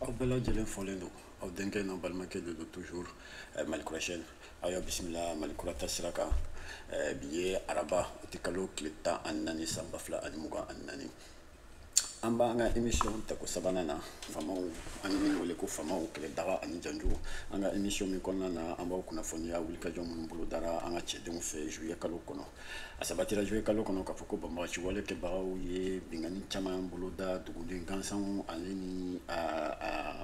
aw bɛɛ lajɛlen folen don aw denkɛ n'aw balimakɛ de don toujours eh, mali kurasiyɛn aw y'a bisimila mali kura taasira kan eh, bi ye araba août kalo tile tan ani naani san ba fila ani mugan ani naani an b'an ka emission tako sabanan na famaw an ye min wele ko famaw kɛlɛ daga ani janjo an ka emission min kɔnɔna na an b'aw kunnafoniya wulikajɔ minnu bolo dara an ka cɛdenw fɛ juillet kalo kɔnɔ a sabatira juillet kalo kɔnɔ k'a fɔ ko banbagaci wale kɛbagaw ye binkanni caman boloda duguden gansanw ale ni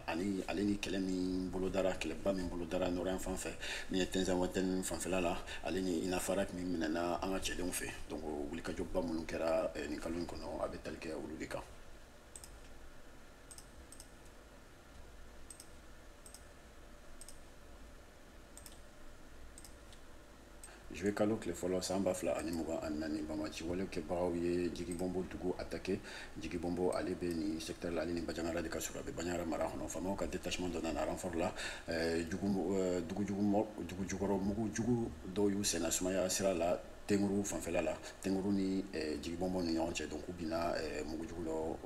ani ale ni kɛlɛ min bolodara kɛlɛba min bolodara nord yanfan fɛ min ye tinzawatɛni fanfɛla la ale ni inafarak min minɛna an ka cɛdenw fɛ donc wulikajɔba minnu kɛra eh, nin kalo in kɔnɔ a bɛ tali kɛ olu de kan Juillet kalo tile fɔlɔ san ba fila ani mugan ani naani banbagaci wale kɛbagaw ye jigibɔnbo dugu atake jigibɔnbo ale bɛ nin secteur la ale ni bajangara de ka surun a bɛ bajangara mara kɔnɔ famaw ka détachement dɔ nana renfort la eh, eh, dugujukɔrɔ mugu jugu dɔw y'u senna sumaya sira la tenguru fanfɛla la tenguru ni eh, jigibɔnbo ni ɲɔgɔn cɛ donc u binna mugu jugu dɔ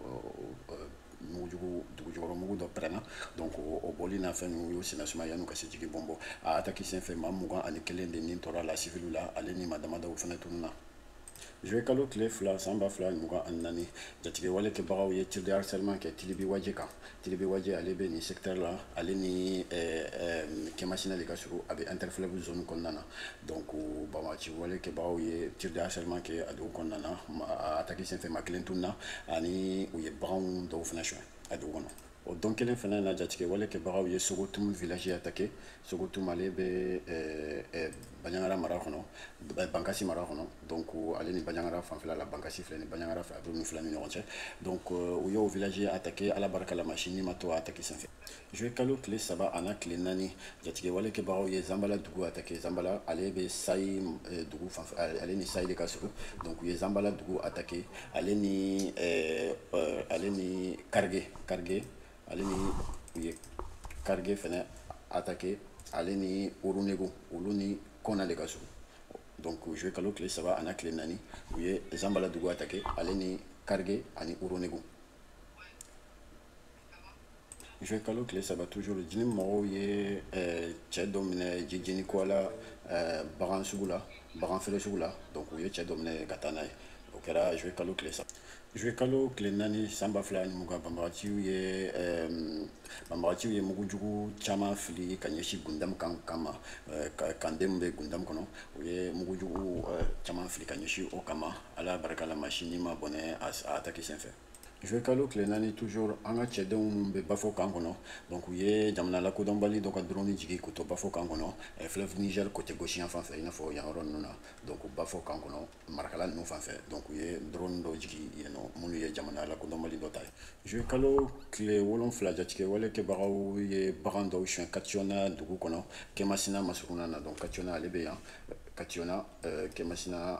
mugujugu dugujukɔrɔ mugu dɔ pɛrɛnna donc o bolimafɛn ninnu y'o senna sumaya yan'u ka se jigibɔnbo a ataki sen fɛ maa mugan ani kelen de ni tora a la siviliw la ale ni maa damadaw fana tununna juillet kalo tile fila san ba fila mugan ani naani jatigɛwale kɛbagaw ye tir de harcèlement kɛ tilibi waje kan tilibi waje ale bɛ nin secteur la ale ni kɛmasina de ka surun a bɛ interfleuve zone kɔnɔna na donc banbagaci wale kɛbaaw ye tir de harcèlement kɛ a dugu kɔnɔna na a ataki senfɛ maa kelen tununna ani u ye baganw dɔw fana suɲɛ a dugu kɔnɔ o don kelen fana na jatigɛ wale kɛbagaw ye sogotum village atake sogotum ale bɛ eh, eh, baɲangara mara kɔnɔ eh, bankasi mara kɔnɔ donc ale ni baɲangara fanfɛla la bankasi filɛ ni baɲangara fɛ a bɛ ninnu fila ni ɲɔgɔn cɛ donc u y'o village atake ala barika la maa si ni ma to a ataki senfɛ juillet kalo tile saba ani tile naani jatigɛwale kɛbagaw ye zanbala dugu atake zanbala ale bɛ sayi eh, dugu fan eh, ale ni sayi de ka surun donc u ye zanbala dugu atake ale ni eh, ale ni karige karige ale ni u ye karige fɛnɛ atake ale ni orunego olu ni kɔna de ka surun donc juillet kalo tile saba ani tile naani u ye zanbala dugu atake ale ni karige ani orunego juillet kalo tile saba toujours jnim mɔgɔw ye eh, cɛ dɔ minɛ jijɛni kɔ la eh, bagan sugu la bagan feere sugu la donc u ye cɛ dɔ minɛ ka taa n'a ye o kɛra juillet kalo tile saba juillet kalo tile naani san ba fila ni mugan banbagaciw ye eh, banbagaciw ye mugu jugu caman fili ka ɲɛsin gundam camp kama camp min bɛ gundam kɔnɔ u ye mugu jugu caman fili ka ɲɛsin o kama ala barika la maa si ni ma bɔnɛ a ataki senfɛ juwe kalo tile naani toujours an ka cɛdenw minnu bɛ bafo kan kɔnɔ donc u ye jamana lakodɔnbali dɔ ka drone jigi k'u to bafo kan kɔnɔ eh, fleuve niger côté gauche yan fan fɛ i n'a fɔ yan yɔrɔ ninnu na donc bafo kan kɔnɔ marakala ninnu fan fɛ donc u ye drone dɔ jigi yen nɔ minnu ye jamana lakodɔnbali dɔ ta ye juwe kalo tile wolonfila jatigɛ wale kɛbagaw ye bagan dɔw suɲɛ katiɔna dugu kɔnɔ kɛmasina masuruna na donc katiɔna ale bɛ yan katiɔna eh, kɛmasina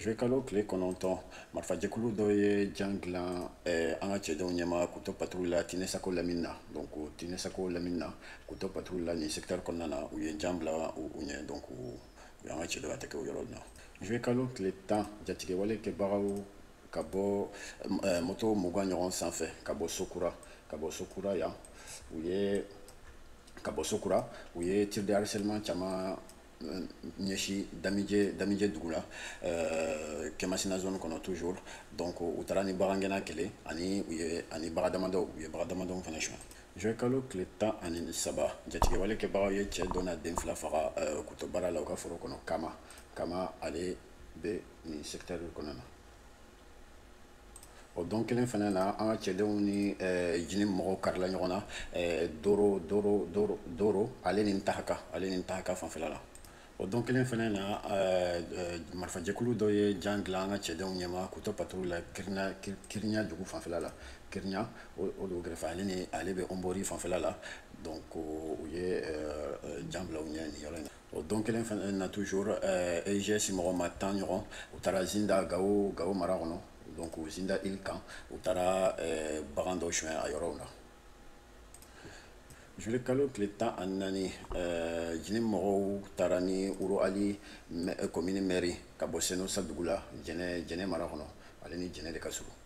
zuwekalo tile kɔnɔntɔn marifajɛkulu dɔ ye jan dilan eh, an ka cɛdenw ɲɛma k'u to patrouille la tinesako lamini na donc tinesako lamini na k'u to patrouille la nin secteur kɔnɔna na u ye jan bila u ɲɛ donc u y'an ka cɛ dɔ ka tɛ kɛ o yɔrɔ na zuwekalo tile tan jatigɛwale kɛbagaw ka bɔ eh, moto mugan ɲɔgɔn sanfɛ ka bɔ sokura ka bɔ sokura yan u ye ka bɔ sokura u ye tir de harcèlement caman ɲɛsi damije damije dugu la euh, kɛmasina zone kɔnɔ toujours donc u taara ni bagangɛnna kelen ani u ye ani bagan damadɔw u ye bagan damadɔw fana suɲɛ juin kalo tile tan ani saba jatigɛwale kɛbagaw ye cɛ dɔ n'a den fila faga euh, k'u to baara la u ka foro kɔnɔ kama kama ale bɛ nin secteur kɔnɔ na o don kelen fana na an ka cɛdenw ni eh, jnim mɔgɔw karila ɲɔgɔn na eh, doro doro doro doro ale ni ntahaka ale ni ntahaka fanfɛla la o don kelen fana na eh, eh, marifajɛkulu dɔ ye jan dilan an ka cɛdenw ɲɛma k'u to patrouille la kirina Kir- kirinya dugu fanfɛla la kirinya o o dugu kɛrɛfɛ ale ni ale bɛ ɔnbori fanfɛla la donc o- u ye eh, eh, jan bila u ɲɛ nin yɔrɔ in na o don kelen fana na toujours eh, eigs mɔgɔ ma tan ɲɔgɔn u taara zinda gawo gawo mara kɔnɔ donc u zinda île kan u taara eh, bagan dɔ suɲɛ a yɔrɔw la juwe kalo tile tan ani naani eh, jnim mɔgɔw taara ni wuro ali komini mɛri ka bɔ senosa dugu la jɛnɛ jɛnɛ mara kɔnɔ ale ni jɛnɛ de ka surun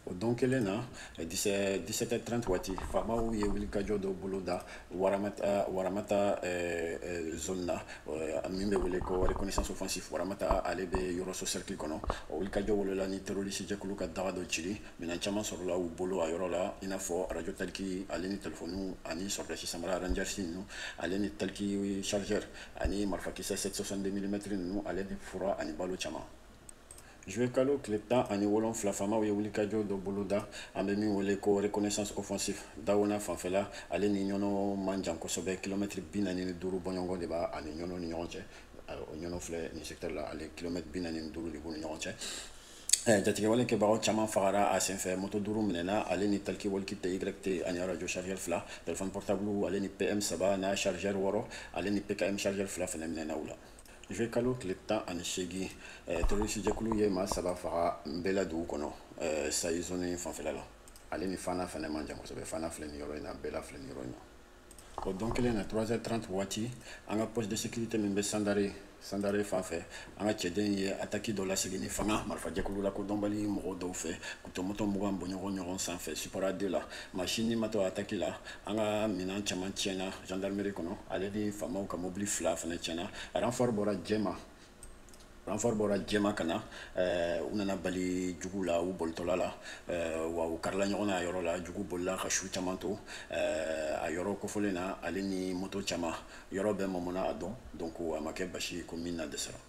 o don kelen na 17h30 waati faamaw ye wulikajɔ dɔ boloda waramata waramata eh, eh, zone na eh, min bɛ wele ko reconnaissance offensive waramata ale bɛ yɔrɔso cercle kɔnɔ o wulikajɔ wolola ni terroriste jɛkulu ka daga dɔ cili minɛn caman sɔrɔla u bolo a yɔrɔ la i n'a fɔ radio taliki ale ni telefoniw ani sɔrɔdasi samara rangers ninnu ale ni taliki chargeur ani marifakisɛ 762 mm ninnu ale ni fura ani balo caman Juwe kalo tile tan ani wolonfila faamaw ye wulikajɔ dɔ boloda an bɛ min wele ko reconnaissance offensive dawona fanfɛla ale ni ɲɔnɔ man jan kosɛbɛ kilomɛtiri bi naani ni duuru bɔɲɔgɔn de b'a ani ɲɔnɔ ni ɲɔgɔn cɛ o ɲɔnɔ filɛ nin secteur la ale kilomɛtiri bi naani ni duuru de b'u ni ɲɔgɔn cɛ Eh, jatigɛwale kɛbagaw caman fagara a senfɛ moto duuru minɛna ale ni taliki waliki tyt ani arajo chargeur fila telefɔni portable ale ni pm saba n'a chargeur wɔɔrɔ ale ni pkm chargeur fila fana minɛna u la zuwekalo tile tan ani seegin eh, terrorisijɛkulu ye maa saba faga nbɛla dugu kɔnɔ eh, sayi zone fanfɛla la ale ni fana fana man jan kosɛbɛ fana filɛ nin yɔrɔ in na bɛla filɛ nin yɔrɔ in na o don kelen na 3h30 waati an ka poste de sécurité min bɛ sandare sandare fan fɛ an ka cɛdenw ye ataki dɔ lasegin ni fanga marifajɛkulu lakodɔnbali mɔgɔw dɔw fɛ moto mugan bɔɲɔgɔn ɲɔgɔn sanfɛ supara de la maa si ni ma to ataki la an ka minan caman tiɲɛna gendarmerie kɔnɔ ale ni faamaw ka mobili fila fana tiɲɛna ranfɔri bɔra jɛma ranfɔri bɔra jɛma ka na eh, u nana bali jugu la u bolitɔla la eh, wa u karila ɲɔgɔn na a yɔrɔ la jugu bolila ka su caman to eh, a yɔrɔ kofɔlen na ale ni moto caman yɔrɔ bɛɛ mamana a dɔn donc a ma kɛ basi ye ko min na dɛsɛra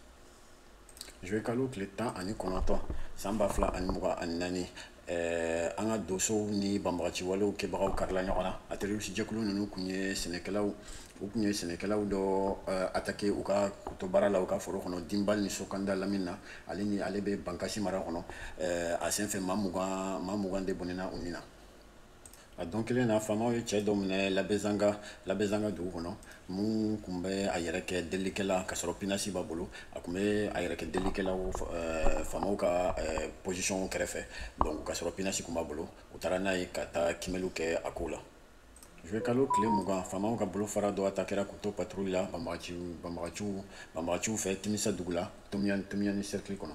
zuwekalo tile tan ani kɔnɔntɔn san ba fila ani mugan ani naani eh, an ka donsow ni banbagaci walew kɛbagaw karila ɲɔgɔn na a terrorisijɛkulu ninnu kun ye sɛnɛkɛlaw u kun ye sɛnɛkɛlaw dɔ eh, atake u ka k'u to baara la u ka foro kɔnɔ dinbal ni sokanda lamini na ale ni ale bɛ bankasi mara kɔnɔ eh, a senfɛ maa mugan maa mugan de bɔnɛna u ni na a don kelen na faamaw ye cɛ dɔ minɛ labɛzanga labɛzanga dugu kɔnɔ min kun bɛ a yɛrɛ kɛ delikɛla ka sɔrɔ pinasi b'a bolo a kun bɛ a yɛrɛ kɛ delikɛla eh, faamaw ka eh, posisɔnw kɛrɛfɛ donc ka sɔrɔ pinasi kun b'a bolo u taara n'a ye ka taa kiimɛliw kɛ a kow la zuwekalo tile mugan faamaw ka bolofara dɔ atakera k'u to patrouille la banbagaciw banbagaciw banbagaciw fɛ timisa dugu la tomiyani tomiyani cercle kɔnɔ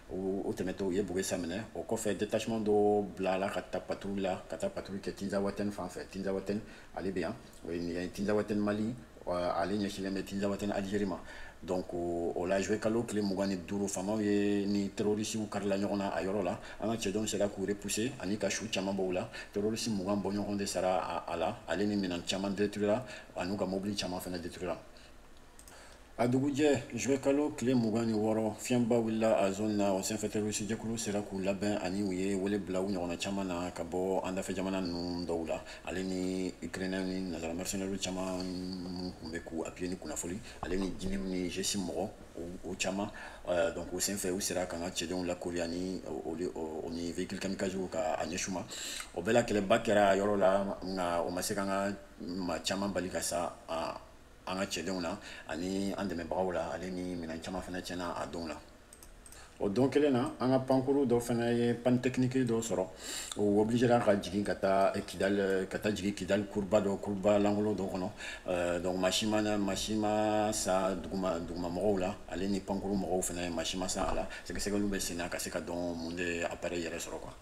o tɛmɛtɔ u ye bogesa minɛ o kɔfɛ detachement dɔ bilala ka taa patrouille la ka taa patrouille kɛ tinzawatɛni fan fɛ tinzawatɛni ale bɛ yan o ye nin ye tinzawatɛni mali ale ɲɛsinlen bɛ tinzawatɛni algérie ma donc o la zuwekalo tile mugan ni duuru faamaw ye ni terrorisiw karila ɲɔgɔn na a yɔrɔ la an ka cɛdenw sera k'u repousser ani ka su caman b'u la terrorisi mugan bɔɲɔgɔn de sara a la ale ni minɛn caman détruira an'u ka mobili caman fana détruira a dugujɛ zuwekalo tile mugan ni wɔɔrɔ fiɲɛba wulila a zone na o senfɛ terrorisijɛkulu sera k'u labɛn ani u ye wele bila u ɲɔgɔnna caman na ka bɔ an dafɛ jamana ninnu dɔw la ale ni ukrainɛw ni nazara mercenaires caman minnu tun bɛ k'u appuyer ni kunnafoni ale ni jnim ni eigs mɔgɔw caman euh, donc o senfɛ u sera k'an ka cɛdenw lakoori ani o ni véhicule kamikaze ka a ɲɛsin u ma o bɛɛ la kɛlɛba kɛra a yɔrɔ la nka o ma se k'an ka maa caman bali ka sa an ka cɛdenw na ani an dɛmɛbagaw la ale ni minɛn caman fana tiɲɛna a donw la o don kelen na an ka pankuru dɔ fana ye panne technique dɔ sɔrɔ o obiligera ka jigin ka taa kidali ka taa jigin kidali kuruba dɔ kuruba lankolon dɔ kɔnɔ eh, donc maa si ma maa si ma sa duguma duguma mɔgɔw la ale ni pankuru mɔgɔw fana maa si ma sa a la sɛgɛsɛgɛliw bɛ sen na ka se ka dɔn mun de appareil yɛrɛ sɔrɔ quoi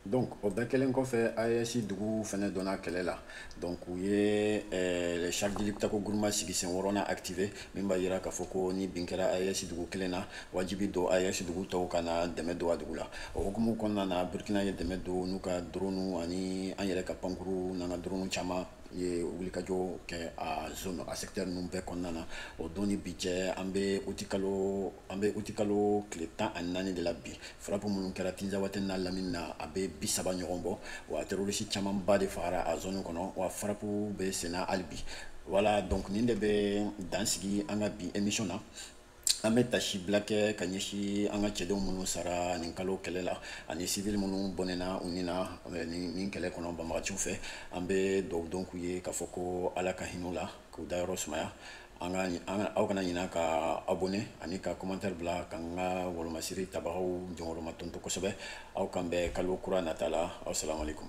donc o bɛɛ kɛlen kɔfɛ AES dugu fana donna kɛlɛ la donc u ye eh, charte de liptako guruma sigi sen wɔɔrɔnan activé min b'a jira k'a fɔ ko ni bin kɛra AES dugu kelen na wajibi don AES dugu tɔw ka na dɛmɛ don a dugu la o hukumu kɔnɔna na Burkina ye dɛmɛ don n'u ka drone ani an yɛrɛ ka pankuru n'an ka drone caman ye wulikajɔ kɛ a zone a secteur ninnu bɛɛ kɔnɔna na o don ni bi cɛ an bɛ uti kalo an bɛ utikalo tile tan ani naani de la bi frappe minnu kɛra tinzawate n'a lamini na a bɛ bisaba ɲɔgɔn bɔ wa terorisi camanba de fagara a zone kɔnɔ wa frappe bɛ senna hali bi voilà donc nin de bɛ dan sigi an ka bi emission na an bɛ taasibila kɛ ka ɲɛsi an ka cɛdenw minnu sara nin kalo kɛlɛ la ani sivili minnu bɔnɛna u ni na nin kɛlɛ kɔnɔ banbagaciw fɛ an bɛ dugawu k'u ye k'a fɔ ko ala ka hinɛ u la k'u dayɔrɔ sumaya an ka an ka aw kana ɲina ka abonné ani ka commentaire bila ka n ka wolomasiri tabagaw jɔyɔrɔma tonto kosɛbɛ aw k'an bɛn kalo kura nata la aw salamu aleykum